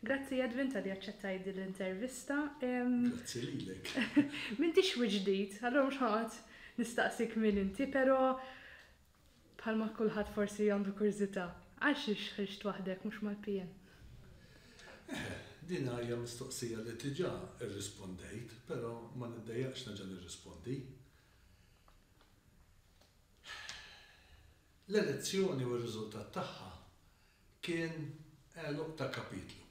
Grazzi Edwin talli aċċettajt din l-intervista. Grazzi lilek. M'intix wiċċ ġdid, allura mhux ħanoqgħod nistaqsik min inti, però bħalma kulħadd forsi għandu kurżità, għal xiex ħriġt waħdek mhux mal-PN? Eħe, din hija mistoqsija li diġà rrispondejt, però ma niddejjaqx nerġa' nirrispondi. L-elezzjoni u r-riżultat tagħha Kien għeluq ta' kapitlu.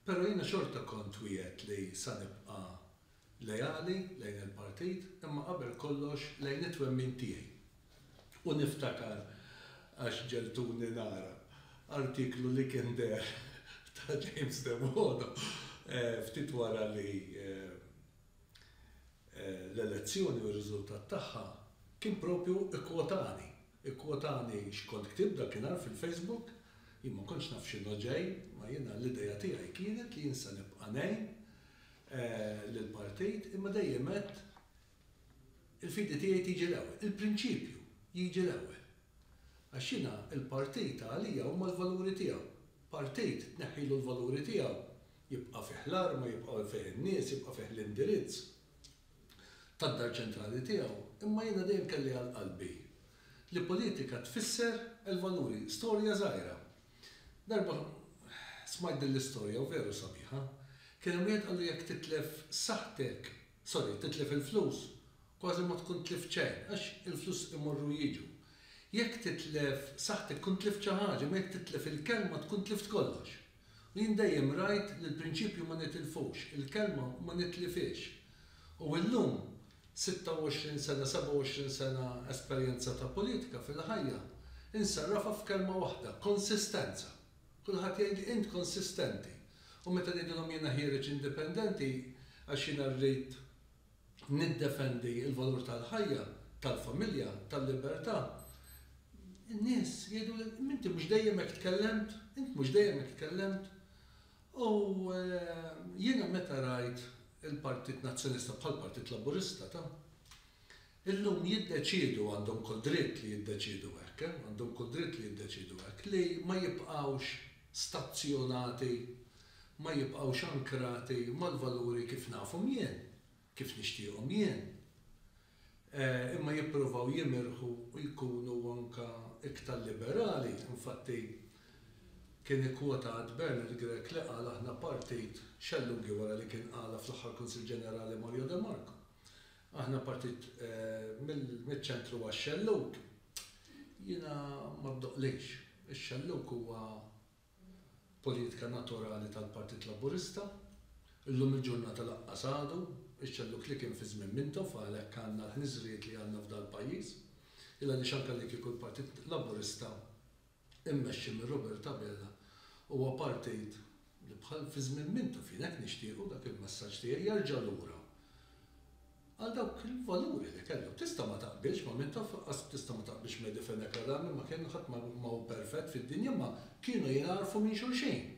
Però jiena xorta kont wiegħedt li sa nibqa' leali lejn il-partit imma qabel kollox lejn it-twemmin tiegħi. U niftakar, għax ġegħltuni nara, artiklu li kien deher ta' James Devoto ftit wara li l-elezzjoni u r-riżultat tagħha kien proprju ikkwotani. Ikkwotani x'kont ktibt dakinhar fil-Facebook. Jien ma kontx naf x'inhu ġej, ma jiena l-idea tiegħi kienet li jien se nibqa' ngħin lill-partit imma dejjem għedt il-fidi tiegħi tiġi l-ewwel, il-prinċipju jiġi l-ewwel. Għax jiena l-partit għalija huma l-valuri tiegħu. Partit tneħħilu l-valuri tiegħu Jibqa' fih l-arma, jibqa' fih in-nies, jibqa' fih l-indirizz tad-dar ċentrali tiegħu, imma jiena dejjem kelli għal qalbi li politika tfisser il-valuri. Storja żgħira. Darba smajt din l-istorja u veru sabiħa. Kien hemm wieħed qallu jekk titlef saħħtek, sorry, titlef il-flus, kważi ma tkun tlift xejn, għax il-flus imorru u jiġu. Jekk titlef saħħtek tkun tlift xi ħaġa, imma jekk titlef il-kelma tkun tlift kollox. U jien dejjem rajt li l-prinċipju ma nitilfux, il-kelma ma nitlifhiex. U illum, 26 sena, 27 sena esperjenza ta' politika fil-ħajja, insarrafha f'kelma waħda, konsistenza. Kulħadd jgħidli int konsistenti. U meta ngħidilhom jiena ħiereġ indipendenti għax jiena rrid niddefendi l-valur tal-ħajja, tal-familja, tal-libertà, in-nies jgħiduli, imma inti mhux dejjem hekk tkellemt, int mhux dejjem hekk tkellemt. U jiena meta rajt il-Partit Nazzjonista bħall-Partit Laburista ta', Illum jiddeċiedu, għandhom kull dritt li jiddeċiedu hekk, eh, għandhom kull dritt li jiddeċiedu hekk, li ma jibqgħux stazzjonati, ma jibqgħux ankrati mal-valuri kif nafhom jien, kif nixtieqhom jien, eh, imma jippruvaw jimirħu u jkunu anke iktar liberali. Infatti, kien ikkwotat Bernard Grech li qal aħna partit, xellug wara li kien qalha fl-aħħar Kunsill Ġenerali Mario de Marco, Aħna partit miċ-ċentru għax-xellug. Jiena ma ddoqqlix. Ix-xellug huwa poliitika naturali tal-Partit Laburista. Illum il-ġurnata lanqas għadu x-xellug li kien fi żmien Mintoff għalhekk għandna l-ħniżrijiet li għandna f'dal-pajjiż. Il għaliex anke li kieku l-Partit Laburista immexxi minn Robert Abela, huwa partit li bħal fi żmien mintu fien hekk nixtiequ dak il-messaġġ tiegħi jerġa' lura għal dawk il-valuri li kellu. Tista' ma taqbilx ma' min taf, lanqas tista' ma taqbilx Mehdi Fenech Adami ma kien, ħadd ma hu perfett fid-dinja imma kienu jingħarfu minn xulxin.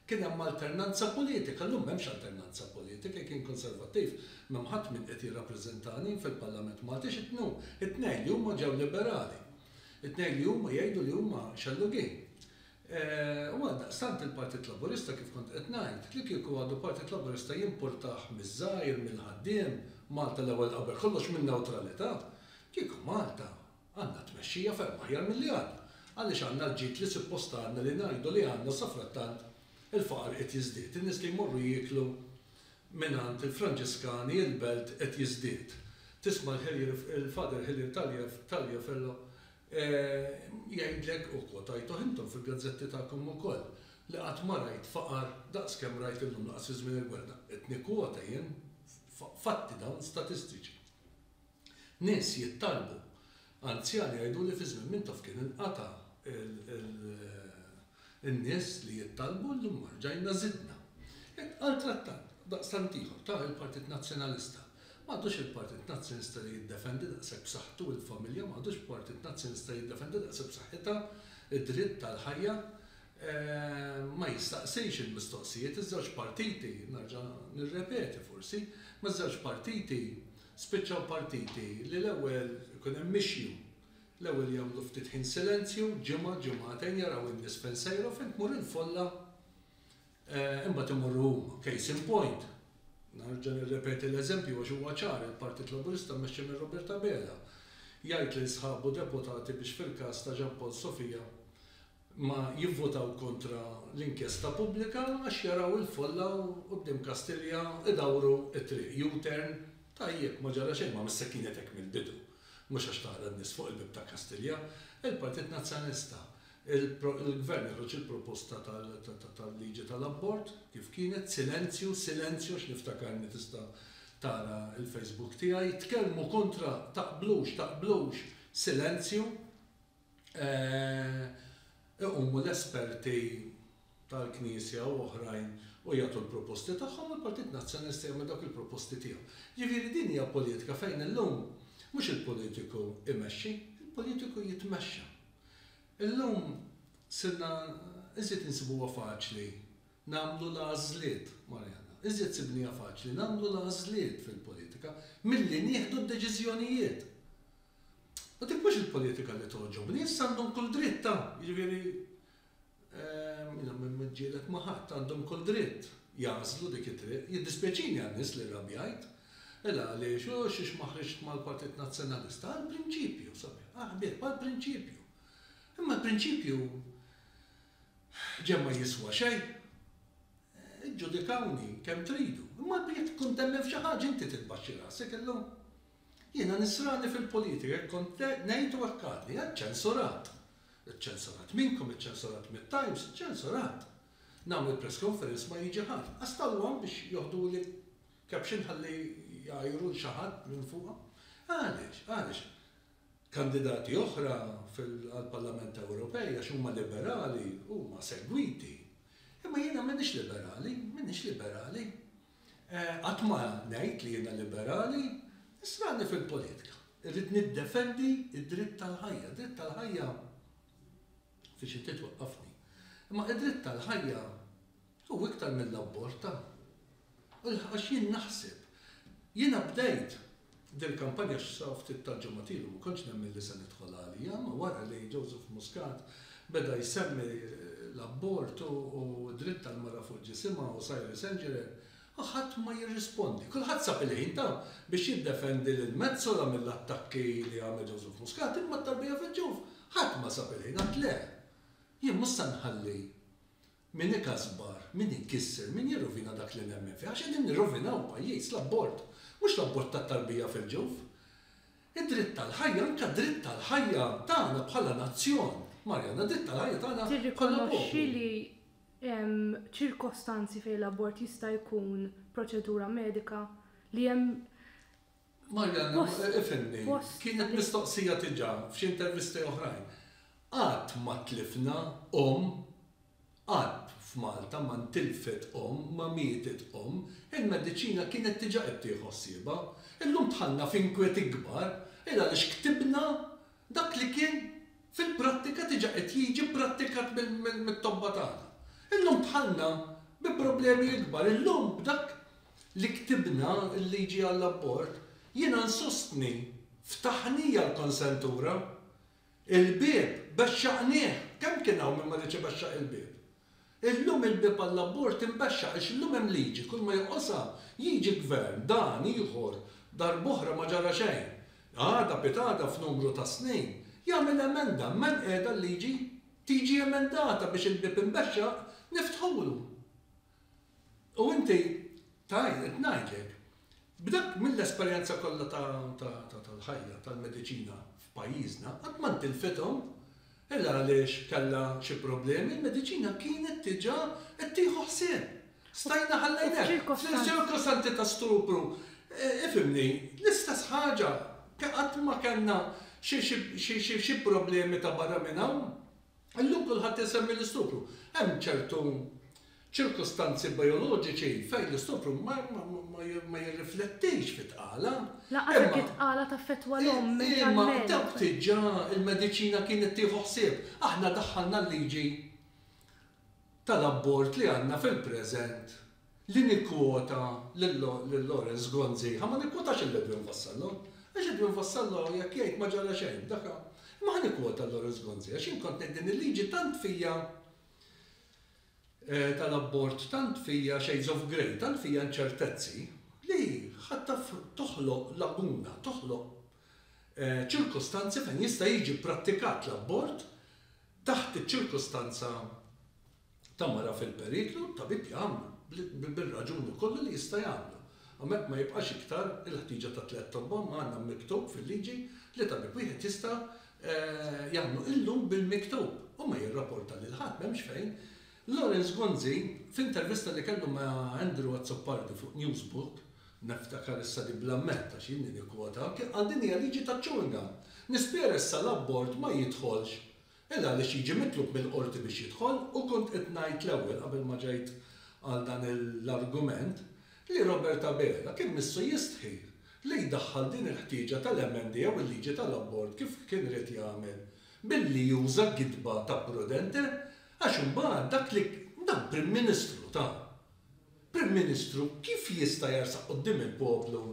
Kien hemm alternanza politika, llum m'hemmx alternanza politika, jekk jien Konservattiv m'hemm ħadd min qed jirrappreżentani fil-Parlament Malti, x'inhu? It-tnejn li huma ġew Liberali. It-tnejn li huma jgħidu li huma xellugin. U għaldaqstant il-Partit Laburista kif kont qed ngħid, li kieku għadu Partit Laburista jimpurtah miż-żgħir, mill-ħaddiem, Malta l-ewwel qabel kollox min-newtralità. Kieku Malta għandna tmexxija ferm aħjar milli għandna. Għaliex għandna l-ġid li suppost għandna li ngħidu li għandna safrattant il-faqar qiegħed jiżdied, in-nies li jmorru jieklu Mingħand il-Franġiskani il-belt qed jiżdied. Tisma' l-Hillier il-Father Hillier Taliaferro jgħidlek, u kwotajtuh intom fil-gazzetti tagħkom ukoll, li qatt ma rajt faqar daqs kemm rajt illum laqas fi żmien il-gwerra. Qed nikkwota jien fatti dawn statistiċi. Nies jittalbu. Anzjani jgħidu li fi żmien Mintoff kien inqata' n-nies li jittalbu u llum rġajna żidna. Hekk qal trattant, daqstant ieħor, ta' il-Partit Nazzjonalista. M'għadux il-Partit Nazzjonista li jiddefendi daqshekk b'saħħtu il-familja, m'għadux Partit Nazzjonista li jiddefendi daqshekk b'saħħitha d-dritt tal-ħajja. Ma jistaqsix il-mistoqsijiet. Iż-żewġ partiti, nerġa' nirrepeti forsi, ma' żewġ partiti Spiċċaw partiti li l-ewwel ikun hemm mixju. L-ewwel jagħmlu ftit ħin silenzju, ġimgħa, ġimgħatejn, jaraw in-nies fejn sejra u fejn tmur il-folla imbagħad imorru huma. Case in point, nerġa' nirrepeti l-eżempju għax huwa ċar, il-Partit Laburista mmexxi minn Robert Abela jgħid lil sħabu deputati biex fil-każ ta' Jean Paul Sofia ma jivvutaw kontra l-inkjesta pubblika għax jaraw il-folla u quddiem Kastilja idawru t-triq, U-turn, tajjeb ma ġara xejn, ma missek kienet hekk mill-bidu, mhux għax tara n-nies fuq il-bieb ta' Kastilja, il-Partit Nazzjonalista, il-Gvern joħroġ il-proposta tal-liġi tal-abort kif kienet, silenzju, silenzju għax niftakarni tista' tara l-Facebook tiegħi, tkellmu kontra, taqblux, taqblux, silenzju. iqumu l-esperti tal-Knisja u oħrajn u jagħtu l-proposti tagħhom u l-Partit Nazzjonalista jagħmel dawk il-proposti tiegħu. Jiġifieri din hija politika fejn illum mhux il-politiku imexxi, il-politiku jitmexxa. Illum sirna iżjed insibuha faċli nagħmlu l-għażliet, Marianna, iżjed sibniha faċli nagħmlu l-għażliet fil-politika milli nieħdu d-deċiżjonijiet. U dik mhux il-politika li togħġobni, issa għandhom kull dritt ta', jiġifieri, jiena ma niġġieled ma' ħadd, għandhom kull dritt jagħżlu dik it-triq. Jiddispjaċini għan-nies li rrabjajt. Mela għaliex, u xiex ma ħriġt mal-Partit Nazzjonalista? Għall-prinċipju, sabiħ, ah ħbieb, għall-prinċipju. Imma l-prinċipju ġenn ma jiswa xejn. Iġġudikawni kemm tridu, imma jekk tkun temmen f'xi ħaġa inti titbaxxi rasek illum. Jiena nisrani fil-politika, hekk kont ngħid u hekk għadni, għad ċensurat. Iċċensurat minnkom, iċċensurat mit-Times, iċċensurat. Nagħmel press conference ma jiġi ħadd, qas tal-one biex joħduli caption ħalli jgħajru 'l xi ħadd minn fuqha. Għaliex? Għaliex? Kandidati oħra għall-Parlament Ewropej għax huma liberali huma segwiti. Imma jiena m'iniex liberali, m'iniex liberali. Qatt ma ngħid li jiena liberali, issa għadni fil-politika. Irrid niddefendi d-dritt tal-ħajja. Dritt tal-ħajja fiex inti twaqqafni. Imma id-dritt tal-ħajja hu iktar mill-abborta. Għax jien naħseb. Jiena bdejt Dil-kampanja x'sa ftit tal-ġimgħat ilu ma kontx nemmen li se nidħol għaliha, ma wara li Joseph Muscat beda jsemmi l-abort u d-dritt tal-mara fuq ġisimha u Cyril St Geran, ħadd ma jirrispondi. Kulħadd sab il-ħin ta' biex jiddefendi lil Metsola mill-attakki li għamel Joseph Muscat imma t-tarbija fil-ġuf ħadd ma sab il-ħin, għad le, jien mhux se nħalli Min ikasbar, min ikisser, min jirrovina dak li nemmen fih, għax qegħdin nirrovinaw il-pajjiż, l-abort, mhux l-abort tat-tarbija fil-ġuf. Id-dritt għall-ħajja, anke dritt għall-ħajja tagħna bħala nazzjon, Marianna, dritt għall-ħajja tagħna bħala poplu. Tirrikonoxxi li hemm ċirkostanzi fejn l-abort jista' jkun proċedura medika, li hemm Marianna, ifhimni, kienet mistoqsija diġà f'xi intervisti oħrajn. Qatt ma tlifna omm, qatt f'Malta ma ntilfet omm, ma mietet omm. Il-mediċina kienet diġà qed tieħu ħsiebha. Illum dħalna f'inkwiet ikbar il għaliex ktibna dak li kien fil-prattika diġà qed jiġi pprattikat mit-tobba tagħna. Illum dħalna bi problemi ikbar. Illum b'dak li ktibna l-liġi għall-abort, jiena nsostni, ftaħnija l-konsentura. Il-bieb, bexxaqnieh! Kemm kien hawn min ma riedx ibexxaq il-bieb? Illum il-bieb għall-abort inbexxaq għax illum hemm liġi, kulma joqosha, jiġi gvern, dan, ieħor, darb'oħra ma ġara xejn. Għada, pitgħada, f'numru ta' snin, jagħmel emenda, imma hemm qiegħda l-liġi. Tiġi emendata biex il-bieb imbexxaq, niftħulu. U inti tgħid, qed ngħidlek, b'dak mill-esperjenza kollha tal-ħajja, tal-mediċina f'pajjiżna, qatt ma ntilfithom. Il għaliex kellha xi problemi, il-mediċina kienet diġà qed tieħu ħsieb. Stajna ħallejna. F'ċirkostanzi ta' stupru, ifhimni, l-istess ħaġa, qatt ma kellna xi problemi ta' barra minn hawn. Illum kulħadd isemmi l-istupru. Hemm ċertu ċirkustanzi bijoloġiċi fejn l-istupru ma jirriflettix fi tqala. Lanqas jekk it-tqala taffettwa l-omm mentalment. Imma dawk diġà il-mediċina kienet tieħu ħsieb. Aħna daħħalna l-liġi tal-abbord li għandna fil-preżent li nikkwota lil Lawrence Gonziha, ma nikkwota lil Edwin Vassallo, għax Edwin Vassallo jekk jgħid ma ġara xejn, dak hu. Imma ħa nikkwota lil Lawrence Gonzi għax jien kont ngħid din il-liġi tant fija tal-abbord tant fija shades of grey, tant fija inċertezzi li ħadd taf toħloq laguna, toħloq ċirkustanzi fejn jista' jiġi prattikat l-abbord, Taħt iċ-ċirkustanza ta' mara fil-periklu, t-tabib jagħmlu, bir-raġuni kollha li jista' jagħmlu. Hawnhekk ma jibqax iktar il-ħtieġa ta' tliet tobba, imma għandna miktub fil-liġi li tabib wieħed jista' jagħmlu illum bil-miktub u ma jirrapporta lil ħadd, m'hemmx fejn. Lawrence Gonzi, f'intervista li kellu ma' Andrew Azzopardi fuq Newsbook, Niftakar issa li bla medd għax jien li nikkwota anke qal din hija liġi taċ-ċunga. Nispera issa l-abort ma jidħolx il għaliex jiġi mitlub mill-qorti biex jidħol u kont qed ngħid l-ewwel qabel ma ġejt għal dan l-argument li Robert Abela kien missu jistħi li jdaħħal din il-ħtieġa tal-emenda jew il-liġi tal-abort kif kien ried jagħmel billi juża gidba ta' prudente għax imbagħad dak li dak Prim Ministru ta' Prim Ministru kif jista' jersaq quddiem il-poplu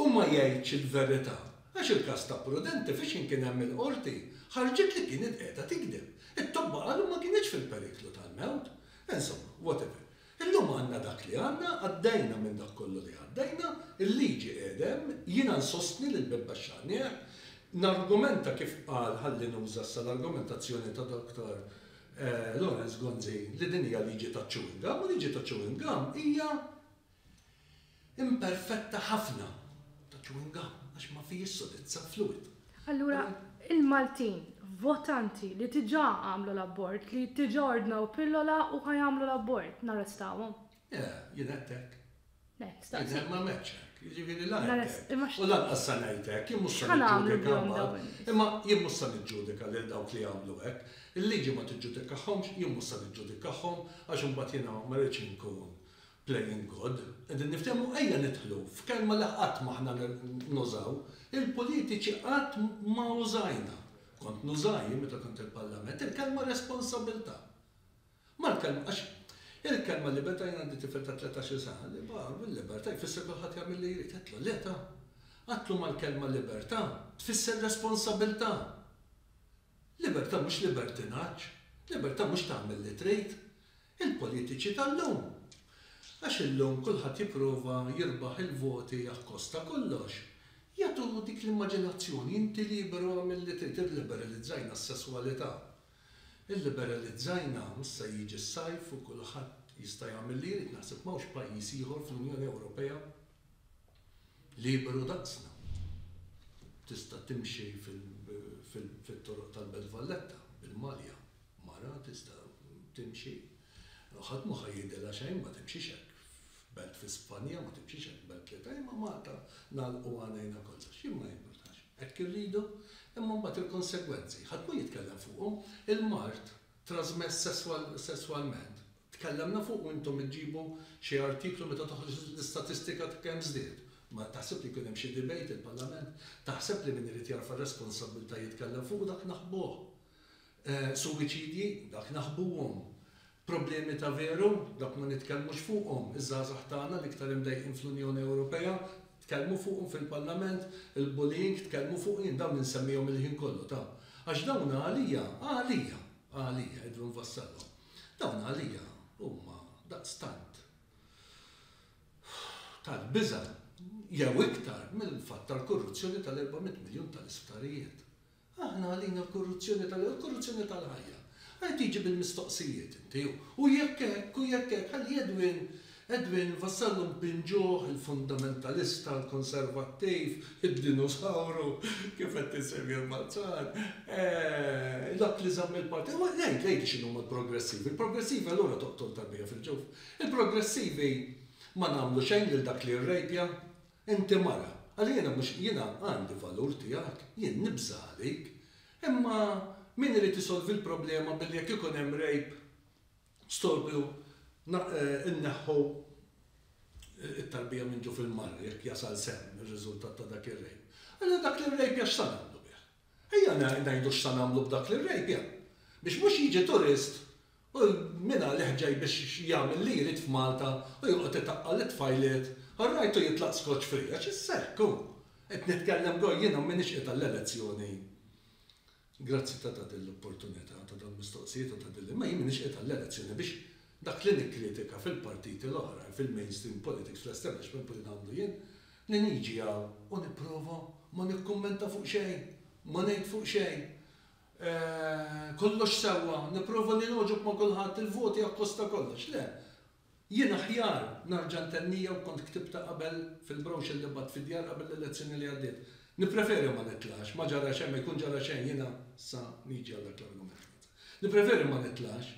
u ma jgħidx il-verità għax il-każ ta' Prudenti f'Ixin kien hemm il-Qorti ħarġet li kienet qiegħda tikdeb. It-tobba qalu ma kinitx fil-periklu tal-mewt. Insomma, whatever. Illum għandna dak li għandna, għaddejna minn dak kollu li għaddejna, il-liġi qiegħda hemm, jiena nsostni li l-bieb baxxanieh, nargumenta kif qal ħalli nuża issa l-argumentazzjoni ta' Dr. Lawrence Gonzi li din hija liġi taċ-chewing gum u liġi taċ-chewing gum hija imperfetta ħafna, ta' chewing gum, għax ma fihiex sodizza, fluid. Allura, il-Maltin votanti li diġà għamlu l-abort, li diġà ordnaw pillola u ħa jagħmlu l-abort, narrestawhom? Le, jien għedtek. Jidher ma għamiltx hekk. Jiġifieri la għedt hekk u lanqas se ngħid hekk. Jien mhux se niġġudika mbagħad. Imma jien mhux se niġġudika lil dawk li jagħmlu hekk. Il-liġi ma tiġġudikahomx, jien mhux se niġġudikahom għax imbagħad jiena ma rridx inkun playing God. Qegħdin niftehmu? Ejja nidħlu f'kelma li qatt m'aħna nużaw. Il-politiċi qatt ma użajna, kont nuża jien meta kont il-Parlament, il-kelma responsabilità. Mal-kelma, għax il-kelma libertà jien għandi tifel ta' tletax-il sena li baqa' bil-libertà jfisser kulħadd jagħmel li jrid. Għedtlu le ta'. Għedtlu mal-kelma libertà tfisser responsabilità. Libertà mhux libertinaġġ. Libertà mhux tagħmel li trid. Il-politiċi tal-lum. Għax illum kulħadd jipprova jirbaħ il-voti akkost ta' kollox. Jagħtu dik l-immaġinazzjoni, inti liberu għamel li trid, irliberalizzajna s-sesswalità. Illiberalizzajna, issa jiġi s-sajf u kulħadd jista' jagħmel li jrid, naħseb m'hawnx pajjiż ieħor fl-Unjoni Ewropea liberu daqsna. Tista' timxi fit-toroq tal-Belt Valletta bil-malja, mara tista' timxi, ħadd mhu ħa jgħidilha xejn, ma timxix hekk f'belt fi Spanja, ma timxix hekk f'belt li ta' imma Malta nagħlqu għanajna kollox. Jien ma jimpurtax. Hekk irridu? Imma mbagħad il-konsegwenzi, ħadd ma jitkellem fuqhom. Il-mard trażmess sesswalment, tkellemna fuqu intom iġġibu xi artiklu meta toħroġ l-istatistika ta' kemm żdied. Ma taħseb li jkun hemm xi debate il-Parlament? Taħseb li min irid jerfa' r-responsabbiltà jitkellem fuqu dak naħbuh. Suwiċidji, dak naħbuhom. Problemi ta' veru, dawk ma nitkellmux fuqhom, iż-żgħażagħ tagħna l-iktar imdejqin fl-Unjoni Ewropea, tkellmu fuqhom fil-Parlament, il-bullying, tkellmu fuq, jien dawn insemmihom il-ħin kollu ta' għax dawn għalija, għalija, għalija, Edwin Vassallo, dawn għalija huma daqstant tal-biża' jew iktar mill-fatt tal-korruzzjoni tal-400 miljun tal-isptarijiet. Aħna għalina l-korruzzjoni tal-ħajja hu l-korruzzjoni tal-ħajja. Ara tiġi bil-mistoqsijiet inti, u jekk hekk, u jekk hekk, ħalli Edwin, Edwin vassallhom b'pinġuħ, il-fundamentalista, il-konservattiv, id-dinosawru, kif qed insemmi l-Malzan, dak li żamm il-partit, u ngħid, ngħidli x'inhuma l-progressivi. Il-progressivi allura toqtol tarbija fil-ġuf. Il-progressivi ma nagħmlu xejn lil dak li rrejpja, Inti mara, għalli jiena mhux, jiena għandi valur tiegħek, jien nibża' għalik. Imma min irid isolvi l-problema billi jekk ikun hemm rape storbju nneħħu t-tarbija minn ġuf il-mara jekk jasal sehem ir-riżultat ta' dak ir-rape. Allura dak l-irrejpja x'sa nagħmlu bih? Ejja ngħidu x'sa nagħmlu b'dak l-irrejpja biex mhux jiġi turist U min għal iħġej biex jagħmel li jrid f'Malta u joqgħod itaqqal lit-tfajliet? Hu rajtu jitlaq skoċċ free għax is-sekk hu! Qed nitkellem go jiena u m'iniex qiegħed għall-elezzjoni. Grazzi ta' tagħti l-opportunità ta' dawn il-mistoqsijiet u ta' din l-, imma jien m'iniex qiegħed għall-elezzjoni biex dak li nikkritika fil-partiti l-oħrajn, fil-mainstream politics, fl-establishment politics għandu jien li niġi hawn u nipprova ma nikkummenta fuq xejn, ma ngħid fuq xejn. Kollox sewwa, nipprova li nogħġob ma' kulħadd, il-voti akkosta kollox. Le. Jien aħjar narġa' ntennija u kont ktibtha qabel fil-brochure li bgħatt fid-djar qabel l-elezzjoni li għaddiet. Nippreferi ma nitlax, ma ġara xejn, ma jkun ġara xejn, jiena sa niġi għal dak l-argument. Nippreferi ma nitlax,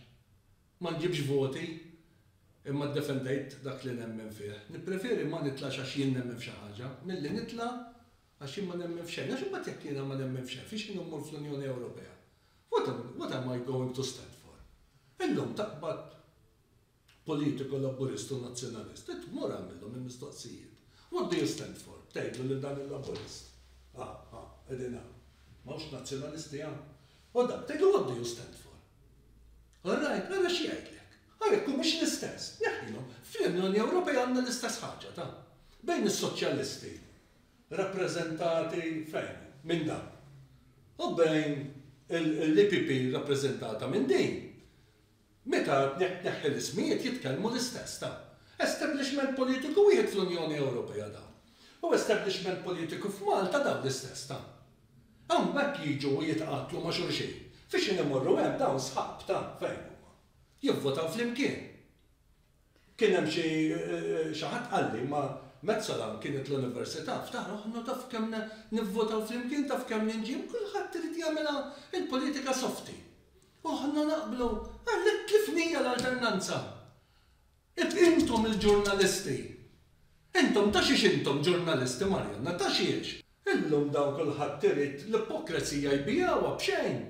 ma nġibx voti imma ddefendejt dak li nemmen fih. Nippreferi ma nitlax għax jien nemmen f'xi ħaġa, milli nitla' Għax jien ma nemmen f'xejn. Għax imbagħad jekk jiena ma nemmen f'xejn, fiex jien immur fl-Unjoni Ewropea? What am, what am I going to stand for? Illum taqbad politiku Laburist u Nazzjonalist, int mur agħmilhom il-mistoqsijiet. What do you stand for? Tgħidlu lil dan il-Laburist. Ha, ha, qegħdin hawn. M'hawnx Nazzjonalisti hawn? U dan, tgħidlu what do you stand for? All right, ara x'jgħidlek. Ara jekk humiex l-istess, neħħilhom. Fl-Unjoni Ewropea għandna l-istess ħaġa, ta? Bejn is-Soċjalisti rappreżentati fejn? Minn dan. U bejn l-EPP rappreżentata minn din. Meta tneħħi l-ismijiet jitkellmu l-istess ta'. Establishment politiku wieħed fl-Unjoni Ewropea dawn. U establishment politiku f'Malta dawn l-istess ta'. Hawn b'hekk jiġu u jitqattlu ma' xulxin. F'x'in imorru hemm dawn sħab ta' fejn huma. Jivvotaw flimkien. Kien hemm xi xi ħadd qalli, ma Metsola kienet l-Università, ftaħru aħna taf kemm nivvotaw flimkien, taf kemm ninġieb, kulħadd irid jagħmilha l-politika softi. U aħna naqblu, għalhekk kif hija l-alternanza? Intom il-ġurnalisti, intom ta' xiex intom ġurnalisti Marianna, ta' xiex? Illum dawn kulħadd irid l-ipokrezija jbigħuha b'xejn.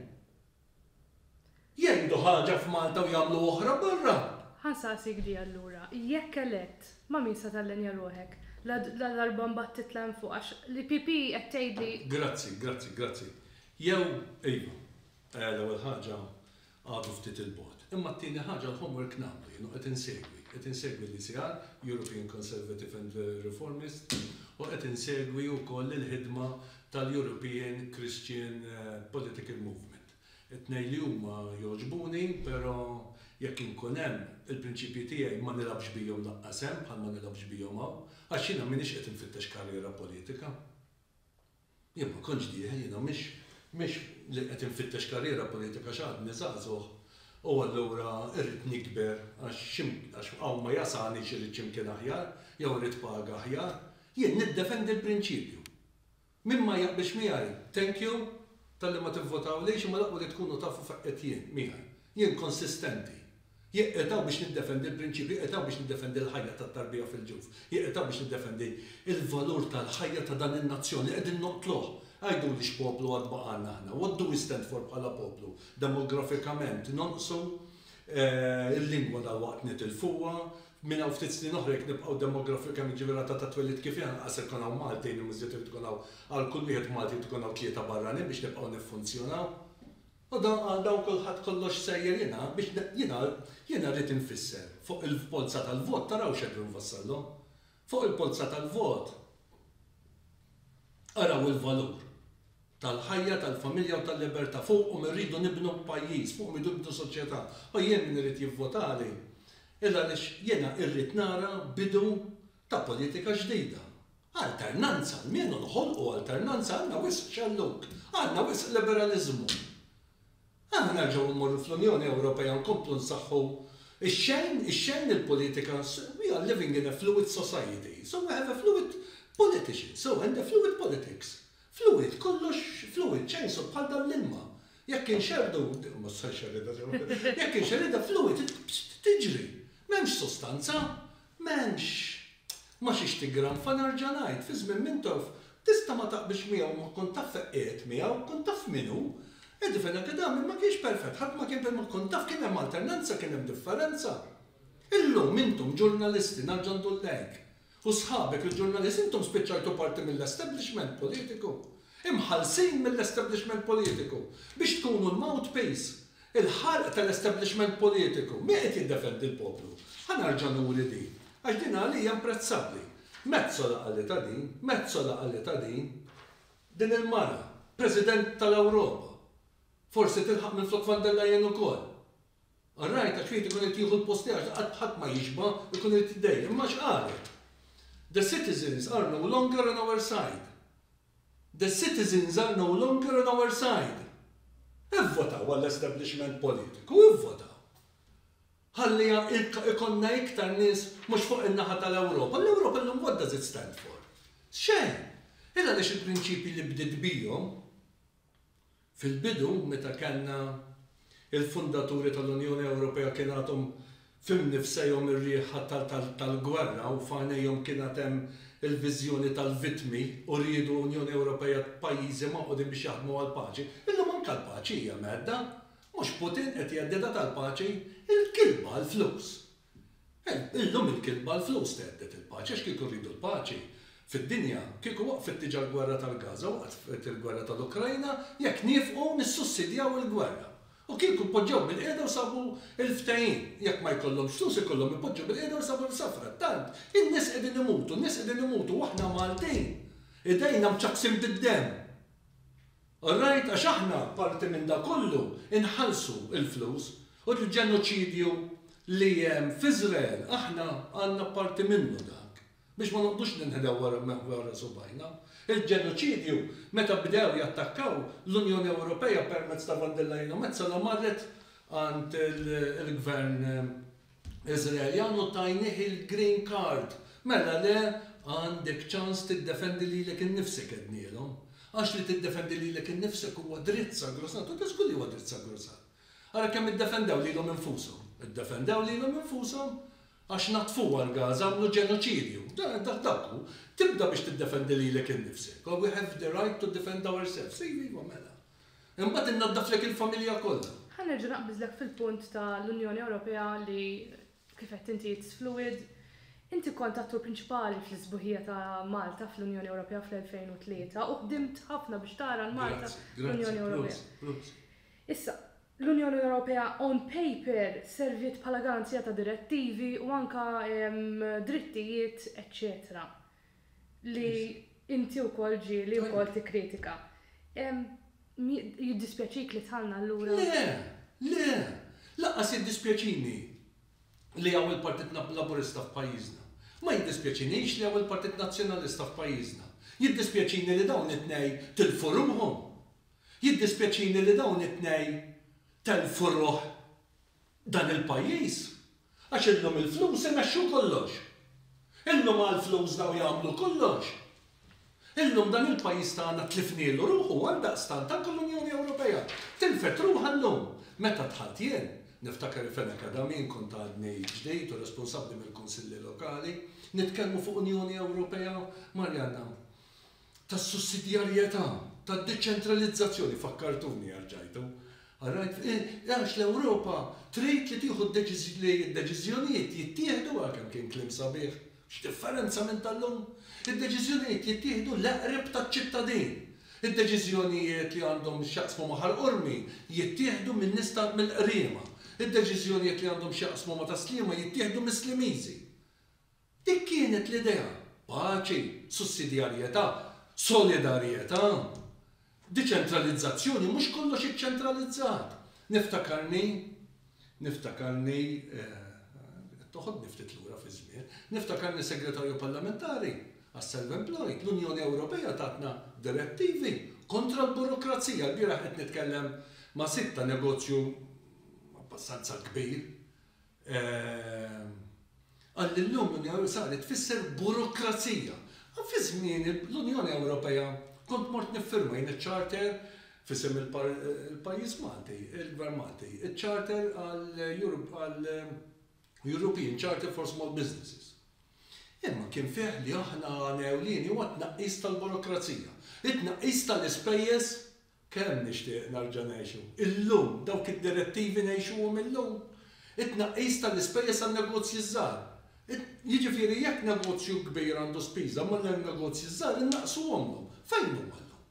Jgħidu ħaġa f'Malta u jagħmlu oħra barra. Ħa nsaqsik di allura, jekk elett, ma' min se tallenja ruħek? Ladarba mbagħad titla' hemm fuq għax l-EPP qed tgħid li. Grazzi, grazzi, grazzi. Jew, ejja, l-ewwel ħaġa għadu ftit 'il bogħod. Imma t-tieni ħaġa l-homework nagħmlu jien u qed insegwi. Qed insegwi l-ECR, European Conservative and Reformist, u qed insegwi wkoll il-ħidma tal-European Christian Political Movement. It-tnejn li huma jogħġbuni, però jekk inkun hemm, il-prinċipji tiegħi ma nilgħabx bihom laqqas hemm bħal ma nilgħabx bihom hawn, għax jiena m'iniex qed infittex karriera politika. Jien ma kontx dieħel, jiena mhix mhix li qed infittex karriera politika għax għadni żagħżugħ u allura rrid nikber għax xi għax hawn ma jasalnix irrid xi mkien aħjar jew irrid paga aħjar. Jien niddefendi l-prinċipju. Min ma jaqbilx miegħi, thank you talli ma tivvotawlix imma l-aqwa li tkunu tafu fejn qed jien, miegħi. Jien konsistenti. Jekk qed hawn biex niddefendi l-prinċipji, qed hawn biex niddefendi l-ħajja tat-tarbija fil-ġuf. Jekk qed hawn biex niddefendi l-valur tal-ħajja ta' dan in-nazzjon li qegħdin noqtluh. Għiduli x'poplu għad baqgħalna aħna? What do we stand for bħala poplu? Demografikament nonqsu, il-lingwa dalwaqt nitilfuha, Minn hawn ftit snin oħra jekk nibqgħu demografikament, jiġifieri r-rata ta' twelid kif hi, anqas se jkun hawn Maltin u miżjed irid ikun hawn għal kull wieħed Malti jrid ikun hawn tlieta barranin biex nibqgħu niffunzjonaw. U dan għal dawn kulħadd kollox sejjer jingħad biex jiena jiena rrid infisser fuq il-polza tal-vot taraw x'qegħdin nfassallhom. Fuq il-polza tal-vot araw il-valur. tal-ħajja, tal-familja u tal-libertà. Fuqhom irridu nibnu pajjiż, fuqhom irridu nibnu soċjetà. U jien min irid jivvotali illa għaliex jiena irrid nara bidu ta' politika ġdida. Alternanza almenu noħolqu alternanza għandna wisq xellug, għandna wisq liberaliżmu. Aħna nerġgħu immorru fl-Unjoni Ewropea nkomplu nsaħħu x-xejn, ix-xejn il-politika we are living in a fluid society, so we have a fluid politician, so and a fluid politics. Fluid, kollox fluid, chainsaw bħal dan l-ilma. Jekk inxerrdu, ma tista' nxerridha sew, jekk inxerridha fluid tiġri. M'hemmx sustanza, m'hemmx ma xiex tiggranfa nerġa' ngħid, fi żmien Mintoff tista' ma taqbilx miegħu ma kont taf fejn qiegħed miegħu, kont taf min hu. Eddie Fenechedami ma kienx perfett, ħadd ma kien ma kont taf kien hemm alternanza, kien hemm differenza. Illum intom ġurnalisti, nerġa' ndur lejk, U sħabek il-ġurnalist intom spiċċajtu parti mill-establishment politiku. Imħallsin mill-establishment politiku. Biex tkunu l-mouthpiece. Il-ħalq tal-establishment politiku. Min qed jiddefendi l-poplu? Ħa nerġa' nuri din. Għax din għalija imprezzabbli. Metsola qalitha din. Metsola qalitha din. Din il-mara. President tal-Ewropa. Forsi tilħaq minflok Van der Leyen ukoll. Ar-ragħaj ta' ċwiet ikun irid jieħu l-post tiegħek li qatt ħadd ma jixba' jkun irid jiddejjaq. Imma x'qalet? The citizens are no longer on our side. The citizens are no longer on our side. Ivvotaw għall-establishment politiku, ivvotaw. Ħalli ikollna iktar nies mhux fuq in-naħa tal-Ewropa. L-Ewropa llum what does it stand for? Xejn. Illa għaliex il-prinċipji li bdiet bihom Fil-bidu, meta kellna l-fundaturi tal-Unjoni Ewropea kien għadhom f'imnifsejhom ir-riħ tal-gwerra u f'għajnejhom kien għad hemm il-viżjoni tal-vittmi u riedu Unjoni Ewropea ta' pajjiżi magħqudin biex jaħdmu għall-paċi. Illum anke l-paċi hija mhedda. Mhux Putin qed jheddidha tal-paċi? Il-kilba għall-flus! Illum il-kitba l-flus thedded il-paċi għax kieku rridu l-paċi fid-dinja kieku waqfet diġa l-gwerra tal-Gaza, waqfet il-gwerra tal-Ukrajna jekk niefqu nissussidjaw il-gwerra. U kieku poġġew bil-qiegħda u sabu l-ftehim. Jekk ma jkollhomx flus ikollhom ipoġġu bil-qiegħda u jsabu l-sa frattant in-nies qegħdin imutu, n-nies qegħdin imutu u aħna Maltin idejna mċakksin bid-demm. Alright għax aħna parti minn dak kollu inħallsu l-flus u l-ġenoċidju li hemm f'Iżrael aħna għandna parti minnu dak biex ma noqgħdux ninħdew wara subgħajna. Il-ġenoċidju meta bdew jattakkaw l-Unjoni Ewropea permezz ta' von der Leyen u Metsola marret għand il-gvern Iżraeljan u tajnih il-green card. Mela le għandek ċans tiddefendi lilek innifsek għednielhom. Għax li tiddefendi lilek innifsek huwa dritt sagrosant u ta' żgur li huwa dritt sagrosant. Ara kemm iddefendew lilhom infushom. Iddefendew lilhom infushom għax naddfuha l-Gaza, għamlu ġenoċidju. Dak hu. Tibda biex tiddefendi lilek innifsek. We have the right to defend ourselves. Iva, iva, mela. Imbagħad innaddaflek il-familja kollha. Ħa nerġa' naqbiżlek fil-punt ta' l-Unjoni Ewropea li kif għedt inti it's fluid. Inti kont attur prinċipali fl-isbuħija ta' Malta fl-Unjoni Ewropea fl-2003 u ħdimt ħafna biex tara l-Malta fl-Unjoni Ewropea. Issa, l-Unjoni Ewropea on paper serviet bħala garanzija ta' direttivi u anke drittijiet eċċetera. li inti wkoll ġieli wkoll tikkritika. Jiddispjaċik li dħalna allura? Le! Le! Lanqas jiddispjaċini li hawn il-Partit Laburista f'pajjiżna. Ma jiddispjaċinix li hawn il-Partit Nazzjonalista f'pajjiżna. Jiddispjaċini li dawn it-tnej tilfu ruħhom. Jiddispjaċini li dawn it-tnej telfu ruħ. Dan il-pajjiż, għax illum il-flus imexxu kollox. Illum għall-flus dawn jagħmlu kollox. Illum dan il-pajjiż tagħna tlifnielu ruħu għaldaqstant anke l-Unjoni Ewropea tilfet ruħha llum. Meta dħalt jien, niftakar li f'En Acadamie kont għadni ġdid u responsabbli mill-Kunsilli Lokali, nitkellmu fuq Unjoni Ewropea, Marianna, tas-sussidjarjetà, tad-deċentralizzazzjoni, fakkartuni għax ġajtu, all right, għax l-Ewropa trid li tieħu li d-deċiżjonijiet jittieħdu, ah kemm kien kliem sabiħ, x'differenza minn tal-lum, id-deċiżjonijiet jittieħdu l-eqreb taċ-ċittadin, id-deċiżjonijiet li għandhom x'jaqsmu ma' Ħal Qormi jittieħdu minn nies ta' mill-Qriema, id-deċiżjonijiet li għandhom x'jaqsmu ma' Tas-Sliema jittieħdu mis-Slimiżi. Dik kienet l-idea, paċi, sussidjarjetà, solidarjetà, deċentralizzazzjoni, mhux kollox iċċentralizzat. Niftakarni, niftakarni, qed toħodni ftit lura fiż-żmien, niftakarni Segretarju Parlamentari għas-Self-Employed, l-Unjoni Ewropea tatna direttivi kontra l-burokrazija. Ilbieraħ qed nitkellem ma' sid ta' negozju abbastanza kbir Qal li llum l-Unjoni Ewropea saret tfisser burokrazija. Fi żmieni l-Unjoni Ewropea kont mort niffirma jien iċ-charter f'isem il-pajjiż Malti, il-Gvern Malti, iċ-charter għal European Charter for Small Businesses. Imma kien fih li aħna għan ewlieni huwa t-tnaqqis tal-burokrazija, it-tnaqqis tal-ispejjeż Kemm nixtieq nerġa' ngħixu illum dawk id-direttivi ngħixuhom illum! It-tnaqqis tal-ispejjeż għan-negozji ż-żgħar. Jiġifieri jekk negozju kbir għandu spiża ma' negozji ż-żgħar innaqqsuhomlhom. Fejn huma llum?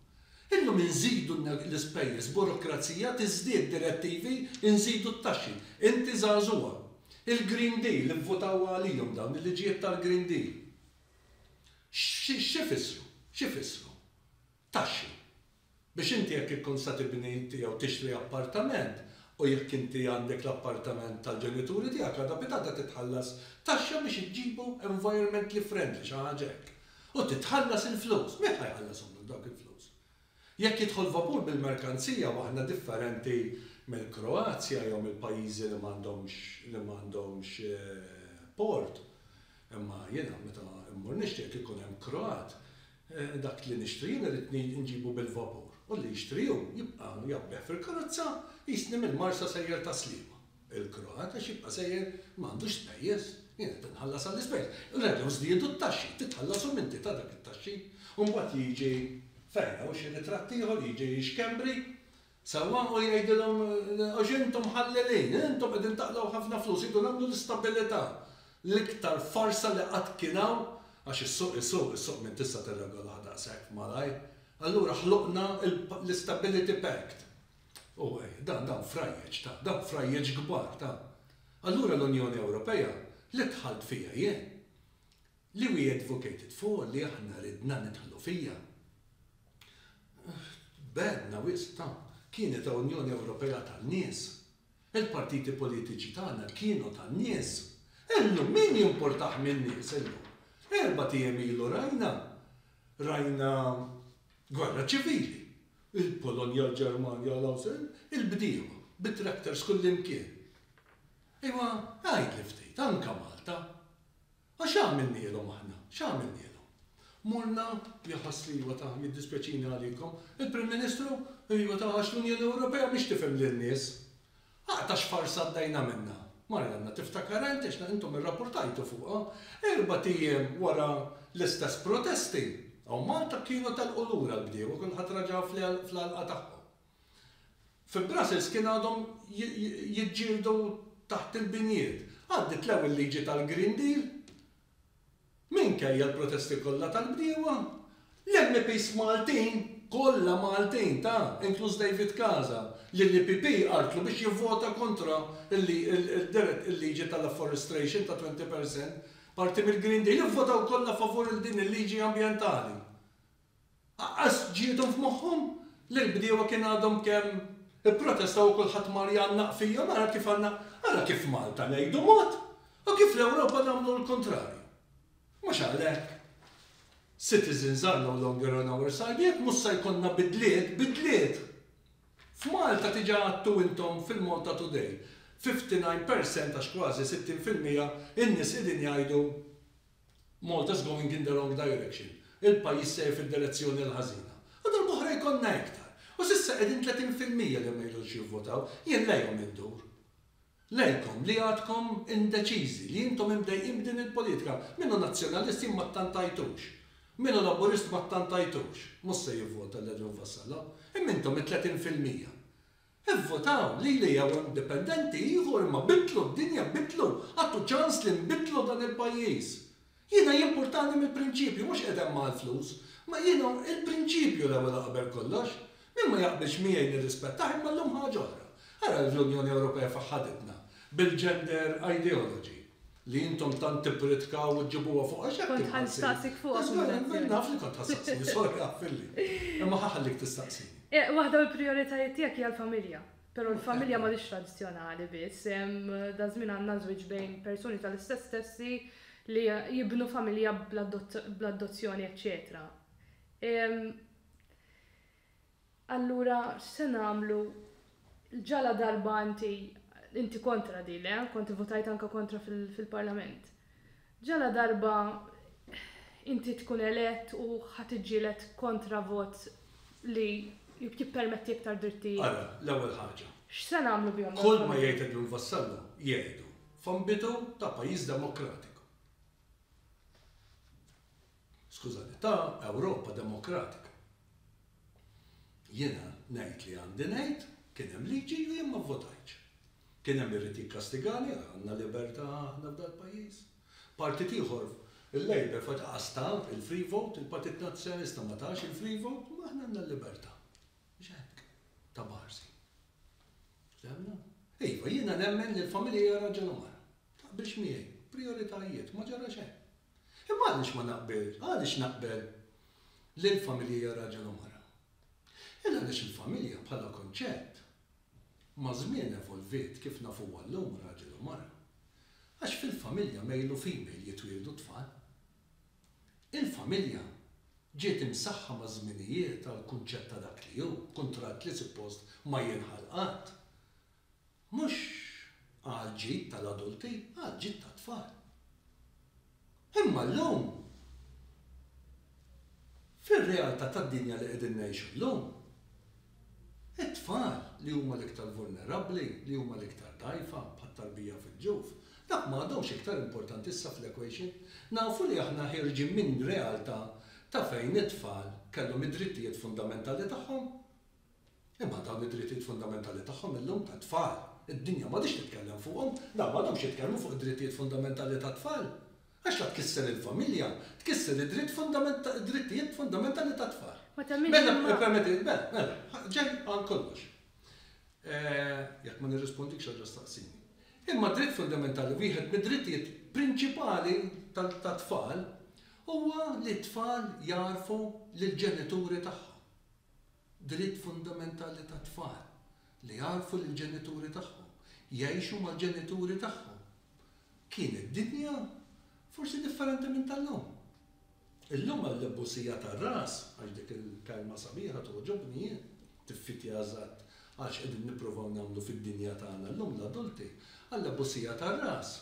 Illum inżidu l-ispejjeż, burokrazija tiżdied, direttivi, inżidu t-taxxi. Inti żagħżugħa. Il-Green Deal, ivvutaw għalihom dawn, il-liġijiet tal-Green Deal. X'ifissru? X'ifissru? Taxxi. Biex inti jekk ikkun se tibni inti jew tixtri appartament u jekk inti għandek l-appartament tal-ġenituri tiegħek għada pitgħada titħallas taxxa biex iġġibu environmentally friendly, xi ħaġa hekk. U titħallas il-flus. Min ħa jħallashomlok dawk il-flus? Jekk jidħol vapur bil-merkanzija u aħna differenti mill-Kroazja jew mill-pajjiżi li m'għandhomx li m'għandhomx port, imma jiena meta mmur nixtri jekk ikun hemm Kroat Dak li nixtri jien irrid nġibu bil-vapur u li jixtri hu jibqa' jgħabbeh fil-karozza jqisni mill-Marsa sejjer ta' Sliema. Il-Kroat għax jibqa' sejjer ma għandux spejjeż. Jien qed inħallas għall-ispejjeż. Reġgħu żdiedu t-taxxi. Titħalla s-suminti ta' dak it-taxxi. U mbagħad jiġi fejn hawn xi ritratt ieħor jiġi xkembri Sewwa, u jgħidilhom, Għax intom ħallelin, intom qegħdin taqlgħu ħafna flus, irridu nagħmlu l-istabilità, l-iktar farsa li qatt kien hawn, għax is-suq isuq, is-suq min tista' tirregolah daqshekk malajr, allura ħloqna l-istability pact. U dan, dan frajjeġ ta, dan frajjeġ kbar ta. Allura l-Unjoni Ewropea, li dħalt fiha jien, Li we advocated for, li aħna ridna nidħlu fiha. Tbegħedna wisq ta'. Kienet Unjoni Ewropea tan-nies. Il-partiti politiċi tagħna kienu tan-nies. Illum min jimpurtah min-nies illum? Erbat ijiem ilu rajna, rajna gwerra ċivili. Il-Polonja, l-Ġermanja, l-Awstrija, il-bdiewa bit-tractors kullimkien. Ejwa, għidli ftit, anke Malta. Għax x'għamilnielhom aħna? X'għamilnielhom? Morna, jħass li iva ta, jiddispjaċini għalikom, il-Prim Ministru, iva ta, għax l-Unjoni Ewropea mhix tifhem lin-nies. Aqgħa ta' xfarsa għaddejna minnha. Marianna, tiftakar int, għax intom irrapportajtu fuqha, erbat ijiem wara l-istess protesti, hawn Malta kienu telqu lura l-bdiewa, kulħadd raġa fl-għalqa tagħhom. Fi Brussels kien għadhom jiġġieldu taħt il-binjiet. Għaddiet l-ewwel liġi tal-Green Deal. Minkejja l-protesti kollha tal-bdiewa, l-MPs Maltin, kollha Maltin, ta, inkluż David Casa, li l-EPP għarrtlu biex jivvota kontra l-liġi tal-afforestration ta' 20 per cent, parti mill-Green Deal, ivvotaw kollha favur il-din il-liġi ambjentali. Aqqas ġiethom f'moħħhom li l-bdiewa kien għadhom kemm ipprotestaw u kulħadd mar jgħannaq fihom, ara kif għandna, ara kif Malta ngħidu mod u kif l-Ewropa nagħmlu l-kuntrarju. Mhux għalhekk, citizens are no longer on our side, jekk mhux se jkollna bidliet, bidliet! F'Malta diġà għadtu intom fil-Malta Today, 59 percent għax kważi 60 fil-mija in-nies qegħdin jgħidu Malta's going in the wrong direction, il-pajjiż sejjer fid-direzzjoni l-ħażina. U darb'oħra jkollna iktar. U s'issa qegħdin 30 fil-mija li ma jridux jivvotaw. Jien lejhom indur. Lejkom li għadkom indeċiżi, li intom imdejqin b'din il-politika. Min hu Nazzjonalist jien ma ttantajtux. Min hu Laburist ma ttantajtux. Mhux se jivvota lil Edwin Vassallo. Imma intom it-30 fil-mija. Ivvutaw lili jew indipendenti ieħor imma biddlu d-dinja biddlu għattu ċans li nbiddlu dan il-pajjiż. Jiena jimpurtani mill-prinċipju mhux qed hemm għall-flus ma jiena il-prinċipju l-ewwel u qabel kollox. Min ma jaqbilx miegħi nirrispettah imma llum ħaġa oħra. Ara l-Unjoni Ewropea fejn ħaditna bil-gender ideology. li intom tant tippritkaw u ġġibuha fuq għax hekk Kont ħanstaqsik fuq. Għax minn naf li kont ħassaqsini sorja filli. Imma ħaħallik tistaqsini. Eh, waħda mill-prijoritajiet tiegħek hija l-familja. Però l-familja ma hix tradizzjonali biss. Daż-żmien għandna żwieġ bejn persuni tal-istess sessi li jibnu familja bl-adozzjoni eċċetera. Allura x'se nagħmlu? Ġaladarba inti, inti kontra di, le? Kont ivvutajt anke kontra fil-Parlament. Ġaladarba inti tkun elett u ħa tiġġieled kontra vot li jippermetti iktar drittijiet? Ara, l-ewwel ħaġa. X'se nagħmlu bihom dawn il-ħamrija? Kull ma jgħid Edwin Vassallo jgħidu f'ambitu ta' pajjiż demokratiku. Skużani, ta' Ewropa demokratika. Jiena ngħid li għandi ngħid, kien hemm liġi u jien ma vvotajtx. Kien hemm irid jikkastigani, għandna libertà aħna f'dal-pajjiż. Partit ieħor, il-Labour f'waqtha qas ta il-free vote, il-Partit Nazzjonalista ma tax il-free vote, imma aħna għandna l-libertà. Mhux hekk, ta' Barsi. Fehmna? Iva, jiena nemmen li l-familja hija raġel u mara. Taqbilx miegħi? Prijoritajiet, ma ġara xejn. Imma għaliex ma naqbilx, għaliex naqbel li l-familja hija raġel u mara? Il għaliex il-familja bħala kunċett maż-żmien evolviet kif nafuha llum raġel u mara. Għax fil-familja male u female jitwieldu t-tfal. Il-familja ġiet imsaħħa maż-żminijiet għall-kunċett ta' dak li hu, kuntratt li suppost ma jinħall qatt. Mhux għall-ġid tal-adulti, għall-ġid tat-tfal. Imma llum, fir-realtà tad-dinja li qegħdin ngħixu llum, it-tfal li huma l-iktar vulnerabbli, li huma l-iktar dgħajfa, bħat-tarbija fil-ġuf, dak ma għadhomx iktar importanti issa fl-equation. Nafu li aħna ħierġin minn realtà ta' fejn it-tfal kellhom id-drittijiet fundamentali tagħhom. Imma dawn id-drittijiet fundamentali tagħhom illum tat-tfal, id-dinja m'għadhiex titkellem fuqhom. Dawn m'għadhomx jitkellmu fuq id-drittijiet fundamentali tat-tfal. Għax la tkisser il-familja, tkisser id-dritt fundament, id-drittijiet fundamentali tat-tfal. Mela, ippermetti li, mela, mela, ġej għal kollox. Jekk ma nirrispondikx erġa' staqsini. Imma d-dritt fundamentali, wieħed mid-drittijiet prinċipali tat-tfal huwa li t-tfal jagħrfu lill-ġenituri tagħhom. Dritt fundamentali tat-tfal li jagħrfu lill-ġenituri tagħhom, jgħixu mal-ġenituri tagħhom. Kienet dinja forsi differenti minn tal-lum. Illum għall-ibbusija tar-ras, għax dik il-kelma sabiħa togħġobni jien, tiffitja eżatt għal x'qegħdin nippruvaw nagħmlu fid-dinja tagħna llum l-adulti, għall-abbusija tar-ras.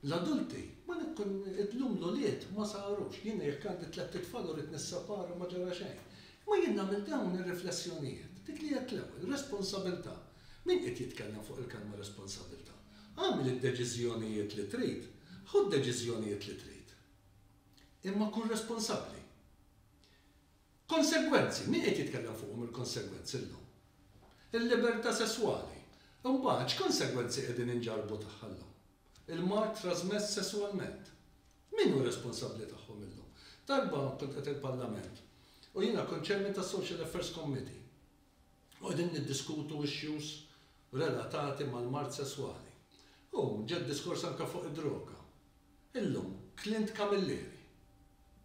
L-adulti, ma nikkun, illum l-ulied ma sarux. Jiena jekk għandi tlett itfal u rrid nisseparhom ma ġara xejn. Imma jien nagħmel dawn ir-riflessjonijiet, dik li għedt l-ewwel, responsabilità. Min qiegħed jitkellem fuq il-kelma responsabilità? Agħmel id-deċiżjonijiet li trid, ħu d-deċiżjonijiet li trid. Imma kun responsabbli. Konsegwenzi, min qed jitkellem fuqhom il-konsegwenzi llum? Il-libertà sesswali. Imbagħad x'konsegwenzi qegħdin inġarrbu tagħha llum? Il-mard trażmess sesswalment. Min hu responsabbli tagħhom illum? Darba kont qed il-Parlament u jiena kont Chairman tas-Social Affairs Committee u qegħdin niddiskutu issues relatati mal-mard sesswali u ġa d-diskors anke fuq id-droga. Illum, Clint Camilleri.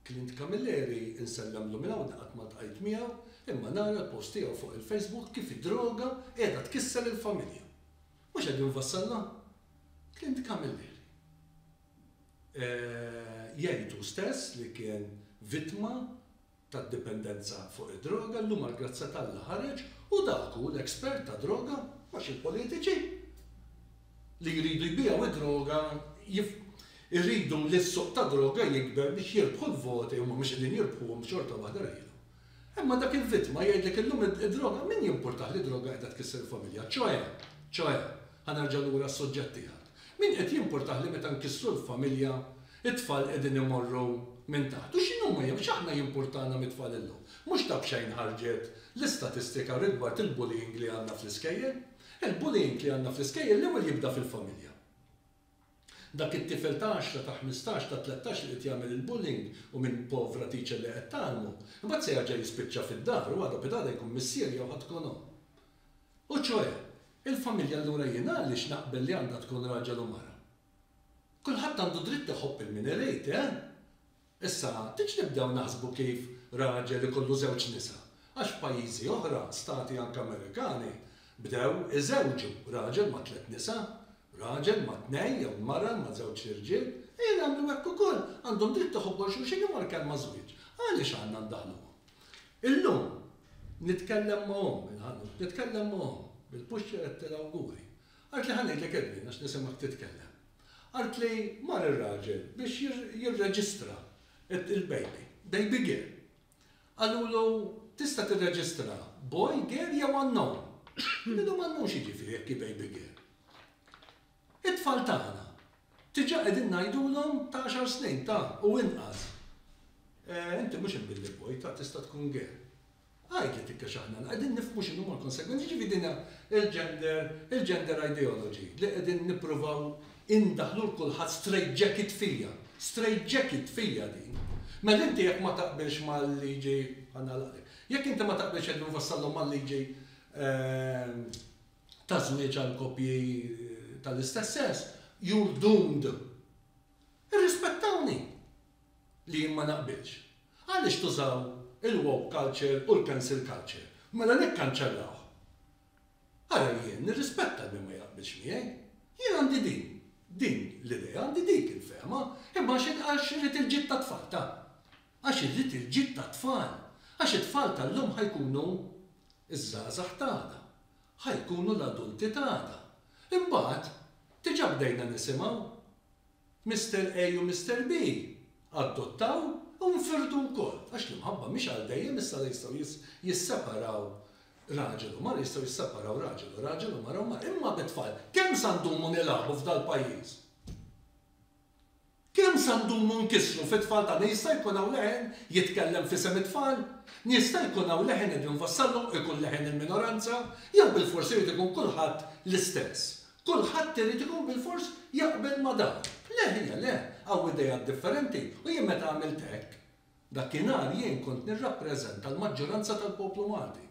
Clint Camilleri insellem-lu minn hawn li qatt ma ltqajt miegħu, imma nara l-post tiegħu fuq il-Facebook kif id-droga qiegħda tkisser il-familja. Mhux qegħdin nfassalna? Clint Camilleri. Eeh, jgħid hu stess li kien vittma tad-dipendenza fuq id-droga llum għall-grazzja t'Alla ħareġ u dak hu l-expert ta' droga għax il-politiċi li jridu jbiegħu d-droga jridu li s-suq tad-droga jikber biex jirbħu l-voti huma mhux qegħdin jirbħuhom xorta waħda rejlu. Imma dak il-vittma jgħidlek illum id-droga min jimpurtah li d-droga qiegħda tkisser il-familja ċoe ċoe ħa nerġa' lura għas-suġġett tiegħek. Min qed jimpurtah li meta nkissru l-familja, it-tfal qegħdin imorru minn taħt? U x'inhuma jew x'aħna jimpurtana mit-tfal illum? Mhux ta' b'xejn ħarġet l-istatistika rigward il-bullying li għandna fl-iskejjel. Il-bullying li għandna fl-iskejjel l-ewwel jibda fil-familja. Dak it-tifel ta' għaxra, ta' ħmistax, ta' tlettax li qed jagħmel il-bullying u minn povra teacher li qed tgħallmu, imbagħad se jerġa' jispiċċa fid-dar u għada pitada jkun missier jew ħadd tkun omm. U ċoe, il-familja allura jien għaliex naqbel li għandha tkun raġel u mara? Kulħadd għandu dritt iħobb il min irid, eh? Issa, tgħidx nibdew naħsbu kif raġel ikollu żewġ nisa, għax f'pajjiżi oħra, stati anke Amerikani, bdew iżewġu raġel ma' tliet nisa, raġel ma' tnejn jew mara ma' żewġt irġiel, ejja nagħmlu hekk ukoll, għandhom dritt iħobbu 'l xulxin imma l-kelma żwieġ, għaliex għandna ndaħluha? Illum, nitkellem ma' omm il-ħanut, nitkellem ma' omm bil-puxċer qed tal-awguri. Qaltli ħa ngħidlek Edwin għax nisimgħek titkellem. Qaltli mar ir-raġel biex jirreġistra il-baby, baby girl. Qalulu tista' tirreġistra boy, girl jew unknown. Illum unknown x'jiġifieri jekk hi baby girl? It-tfal tagħna, diġà qegħdin ngħidulhom ta' għaxar snin, ta' u inqas, Eh, inti mhux il-Billy Boy, ta' tista' tkun gay. Għidli tikkex aħna qegħdin nifhmu x'inhuma l-konsegwenzi, jiġifieri din hija l-gender, il-gender ideology li qegħdin nippruvaw indaħħlu l kulħadd straight jacket fija. Straight jacket fija din. Mela inti jekk ma taqbilx mal-liġi, ħa nagħlaqlek, jekk inti ma taqbilx qegħdin nfassallhom mal-liġi eh, ta' żwieġ għal koppji tal-istess sess, you're doomed. Irrispettawni li jien ma naqbilx. Għaliex tużaw il-woke culture u l-cancel culture? Mela nikkanċellawh. Ara jien nirrispetta min ma jaqbilx miegħi. Jien għandi din, din l-idea, għandi dik il-fehma, imma għax irid il-ġid tat-tfal ta'. għax irrid il-ġid tat-tfal, għax it-tfal tal-lum ħa jkunu ż-żgħażagħ t'għada, ħa jkunu l-adulti t'għada. Imbagħad, diġà bdejna nisimgħu. Mister A u Mister B addottaw u nfirdu wkoll, għax l-imħabba mhix għal dejjem, issa la jistgħu jisseparaw raġel u mara, jistgħu jisseparaw raġel u raġel u mara u mara. Imma bit-tfal, kemm sa ndumu nilagħbu f'dal-pajjiż? Kemm se ndumu nkissru fit-tfal tagħna? Jista' jkun hawn leħen jitkellem f'isem it-tfal? Jista' jkun hawn leħen qed jinfassalhom u jkun leħen il-minoranza? Jew bilfors irid ikun kulħadd l-istess? Kulħadd irid ikun bilfors jaqbel ma' dan? Le ħija le, hawn ideat differenti u jien meta għamilt hekk, dakinhar jien kont nirrappreżenta l-maġġoranza tal-poplu Malti.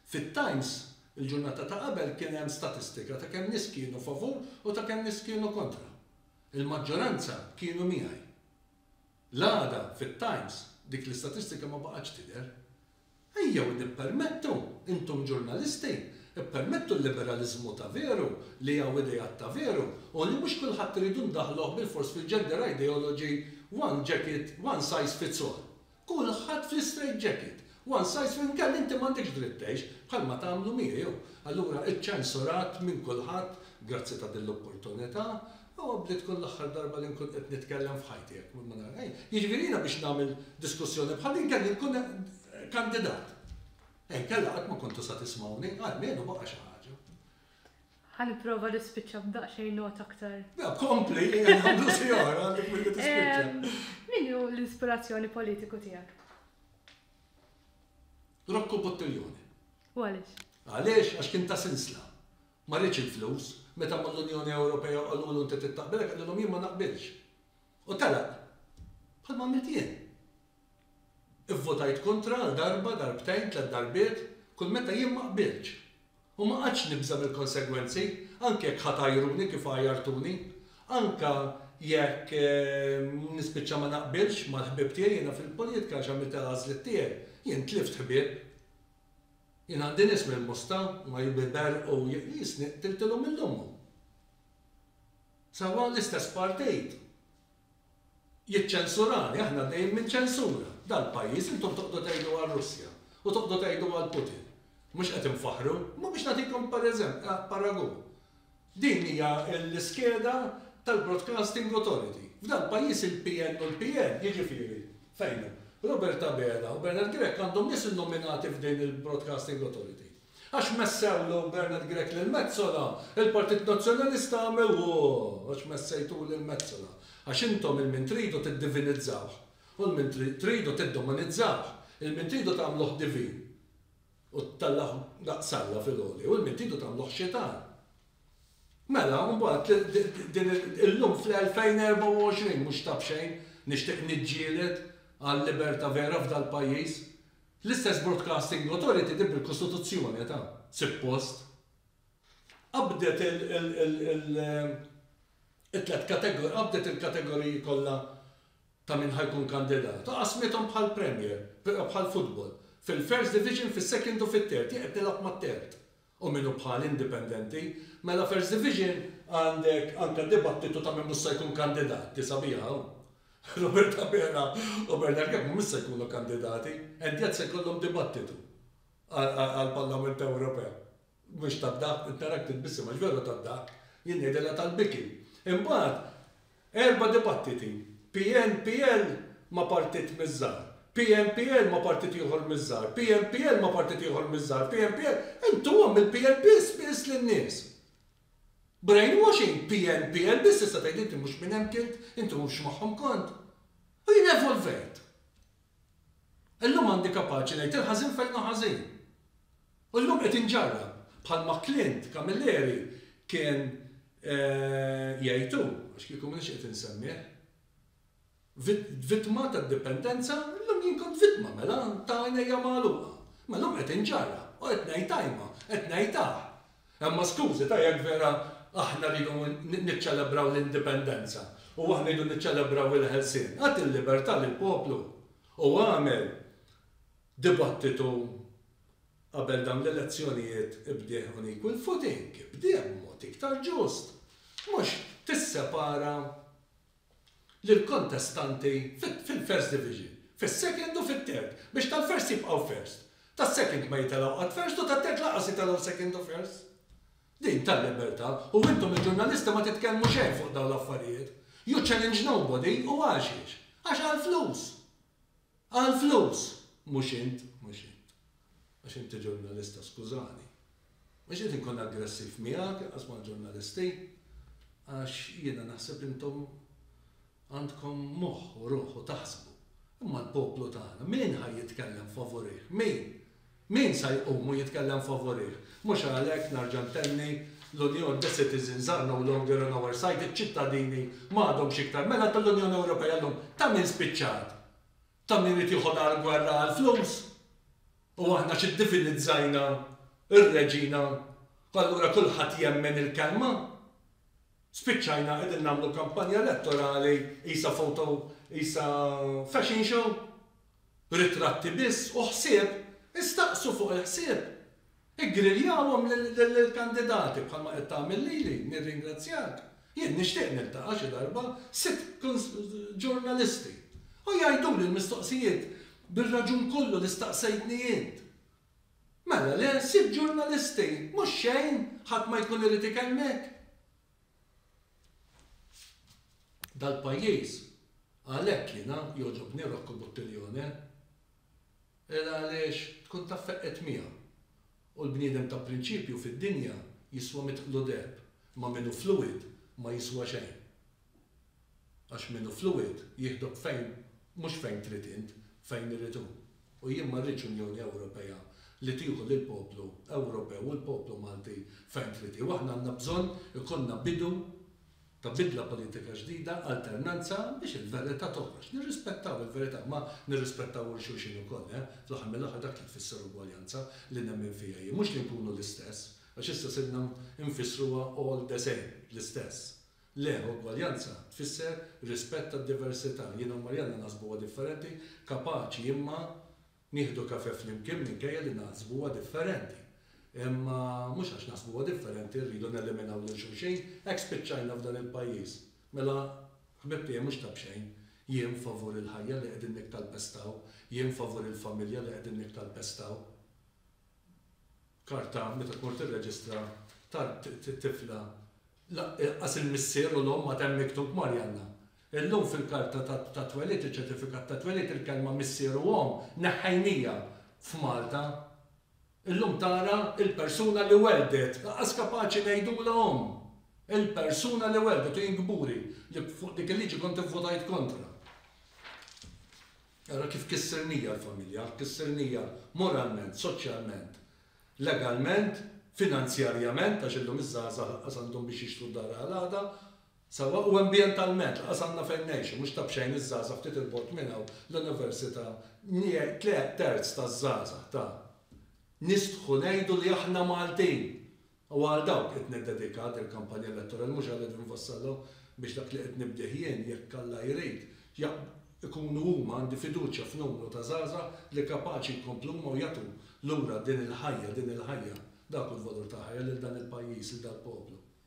Fit-Times il-ġurnata ta' qabel kien hemm statistika ta' kemm nies kienu favur u ta' kemm nies kienu kontra. Il-maġġoranza kienu miegħi. L-għada fit-Times dik l-istatistika ma baqgħetx tidher. Ejjew nippermettu, intom ġurnalisti, ippermettu l-liberaliżmu ta' veru li hawn ideat ta' veru u li mhux kulħadd irridu ndaħħluh bilfors fil-gender ideology one jacket, one size fits all. Kulħadd fl-istrejt ġekit, one size fits inkella inti m'għandekx dritt tgħix, bħalma tagħmlu miegħi hu. Allura iċċensurat minn kulħadd, grazzi ta' din l-opportunità, huwa bli tkun l-aħħar darba li nkun qed nitkellem f'ħajti jekk ma nagħmel xejn. Jiġifieri jiena biex nagħmel diskussjoni bħal din kelli nkun kandidat. Inkella qatt ma kontu sa tismgħuni, almenu baqa' xi ħaġa. Ħa nipprova nispiċċa b'daqsxejn nota aktar. Le, kompli, ejja nagħmlu xi oħra għandek milli tispiċċa. Min hu l-ispirazzjoni politiku tiegħek? Rocco Buttiglione. U għaliex? Għaliex? Għax kien ta' sinsla. Ma rridx il-flus. Meta mmur l-Unjoni Ewropea qalulu inti trid taqbilek qalilhom jien ma naqbilx. U telaq. Bħalma għamilt jien. Ivvotajt kontra għal darba, darbtejn, tliet darbiet, kull meta jien ma qbiltx. U ma qgħadtx nibża' mill-konsegwenzi, anke jekk ħa tgħajruni kif għajjartuni. Anke jekk nispiċċa ma naqbilx mal-ħbieb tiegħi jiena fil-poljitka għax għamilt il-għażliet tiegħi, jien tlift ħbieb. Jien għandi nies mill-Mosta, huma jbiber u jisni qtiltilhom lil ommhom. Sewwa l-istess partit. jiċċensurani, aħna għaddejjin minn ċensura. Dal-pajjiż intom toqgħdu tgħidu għar-Russja u toqgħdu tgħidu għal Putin. Mhux qed infaħħru? Imma biex nagħtikom paragun. Din hija l-iskeda tal-Broadcasting Authority. F'dal-pajjiż il-PN u l-PN, jiġifieri, fejn hu, Robert Abela u Bernard Grech għandhom nies innominati f'din il-Broadcasting Authority. Għax messewlu Bernard Grech lil Metsola, il-Partit Nazzjonalista għamel ooh għax messejtuh lil Metsola. Għax intom il-min tridu tiddivinizzawh u l-min tridu tiddomanizzawh, il-min tridu tagħmluh divin u tellgħuh daqs Alla fil-għoli u l-min tridu tagħmluh xitan. Mela, mbagħad din illum fl-2024 mhux ta' b'xejn nixtieq niġġieled għal liberta' vera f'dal-pajjiż L-istess Broadcasting Authority din bil-Kostituzzjoni etha, sippost, qabdet it-tliet kategoriji, qabdet il-kategoriji kollha ta' min ħa jkun kandidat u qasmithom bħall-Premier, bħall-futbol, fil-First Division, fis-Second u fit-Third, jien qed nilgħab mat-Third. u min hu bħal indipendenti, mela f'Hers Division għandek anke dibattitu ta' min mhux se jkun kandidat, hi sabiħa hawn. Robert Abela u Bernard Grech mhumiex se jkunu kandidati, Endiat se jkollhom dibattitu għall-Parlament Ewropew. Mhux tad-dahk, qed narak titbissem għax veru tad-dahk, jien ngħidilha tal-biki. Imbagħad, Erba' dibattiti, PNPL ma' partit miż-żgħar, PNPL ma' partit ieħor miż-żgħar, PNPL ma' partit ieħor miż-żgħar, PNPL, intom mill-PNPL smiss lin-nies. Brainwashing, PNPL biss tista' tgħid inti mhux minn hemm kilt, inti mhux magħhom kont. U jien evolvejt. Illum għandi kapaċi ngħid il-ħażin fejn hu ħażin. U llum qed inġarrab, bħalma Clint Camilleri kien jgħid hu, għax kieku m'iniex qed insemmih, vittma tad-dipendenza, illum jien kont vittma, mela, ta' għajnejja magħluqa. Imma llum qed inġarrab u qed ngħid ajma, qed ngħid aħ. Imma skużi ta' jekk vera aħna rridu niċċelebraw l-indipendenza u aħna rridu niċċelebraw il-ħelsien, agħti l-libertà lill-poplu u agħmel dibattitu qabel dawn l-elezzjonijiet ibdieh on equal footing, ibdieh b'mod iktar ġust, mhux tissepara lill-kontestanti fil-First Division, fis-Second u fit-Third, biex tal-First jibqgħu First, tas-Second ma jitelgħu qatt First u tat-Third lanqas jitelgħu Second u First. Din tal-libertà u intom il-ġurnalisti ma titkellmu xejn fuq dawn l-affarijiet. You challenge nobody u għaxiex? Għax għall-flus! Għall-flus! Mhux int, mhux int. Għax inti ġurnalista, skużani. Mhux qed inkun aggressiv miegħek, inqas mal-ġurnalisti. Għax jiena naħseb intom għandkom moħħ u ruħ u taħsbu. Imma l-poplu tagħna, min ħa jitkellem favurih? Min? Min sa jqum u jitkellem favurih? Mhux għalhekk, nerġa' ntenni, l-Unjon, the citizens are no longer on our side, iċ-ċittadini ma għadhomx iktar mela tal-Unjoni Ewropea llum. Ta' min spiċċat? Ta' min irid joħodha għall-gwerra għall-flus? U aħna xi ddivinizzajna r-reġina u allura kulħadd jemmen il-kelma? Spiċċajna qegħdin nagħmlu kampanja elettorali qisha photo qisha fashion show? Ritratti biss u ħsieb, istaqsu fuq il-ħsieb! Iggriljawhom lill-kandidati bħalma qed tagħmel lili, nirringrazzjak. Jien nixtieq niltaqa' xi darba sitt ġurnalisti u jgħiduli l-mistoqsijiet bir-raġun kollu li staqsejtni int. Mela le, sitt ġurnalisti, mhux xejn, ħadd ma jkun irid ikellmek. Dal-pajjiż, għalhekk jiena jogħġobni Rocco Buttiglione, il għaliex tkun taf feqqgħet miegħu. U l-bniedem ta' prinċipju fid-dinja jiswa mitt qlu deheb, ma' min hu fluwid ma jiswa xejn. Għax min hu fluwid jieħdok fejn mhux fejn trid int, fejn irid hu. U jien ma rridx Unjoni Ewropea li tieħu lill-poplu Ewropew u l-poplu Malti fejn trid hi. U aħna għandna bżonn ikollna bidu ta' bidla politika ġdida, alternanza, biex il-verità toħroġ. Nirrispettaw il-verità, imma nirrispettaw ul xulxin ukoll, eh! Fl-aħħar mill-aħħar dak li tfisser ugwaljanza li nemmen fiha jien. Mhux li nkunu l-istess, għax issa sirna nfissruha all the same, l-istess. Le, ugwaljanza tfisser rispett għad-diversità. Jiena u Marianna naħsbuha differenti, kapaċi imma nieħdu kafè flimkien minkejja li naħsbuha differenti. Imma mhux għax naħsbuha differenti rridu neliminaw lil xulxin, hekk spiċċajna f'dan il-pajjiż. Mela, ħbib tiegħi mhux ta' b'xejn, jien favur il-ħajja li qegħdin niktalpestaw, jien favur il-familja li qegħdin niktalpestaw. karta meta tmur tirreġistra tat-tifla lanqas il-missier u l-omm għad hemm miktub Marjanna. Illum fil-karta tat-twelid, iċ-ċertifikat tat-twelid, il-kelma missier u omm neħħejnija f'Malta. Illum tara il-persuna li welldet, lanqas kapaċi ngħidulha omm. Il-persuna li welldet u jien kburi li fuq dik il-liġi kont ivvutajt kontra. Ara kif kissirnija l-familja, kissirnija moralment, soċjalment, legalment, finanzjarjament, għax illum iż-żgħażagħ lanqas għandhom biex jixtru d-dar għal għada, sewwa, u ambjentalment, lanqas għandna fejn ngħixu, mhux ta' b'xejn iż-żgħażagħ ftit 'il bogħod minn hawn l-università, tliet terz taż-żgħażagħ ta' nistħu ngħidu li aħna Maltin! Huwa għal dawk qed niddedika din il-kampanja elettorali, mhux għal Edwin Vassallo, biex dak li qed nibdih jien, jekk Alla jrid, jaqb, ikunu huma, għandi fiduċja f'numru ta' żgħażagħ li kapaċi jkomplu huma u jagħtu lura din il-ħajja, din il-ħajja, dak hu l-valur tal-ħajja lil dan il-pajjiż, lil dal-poplu.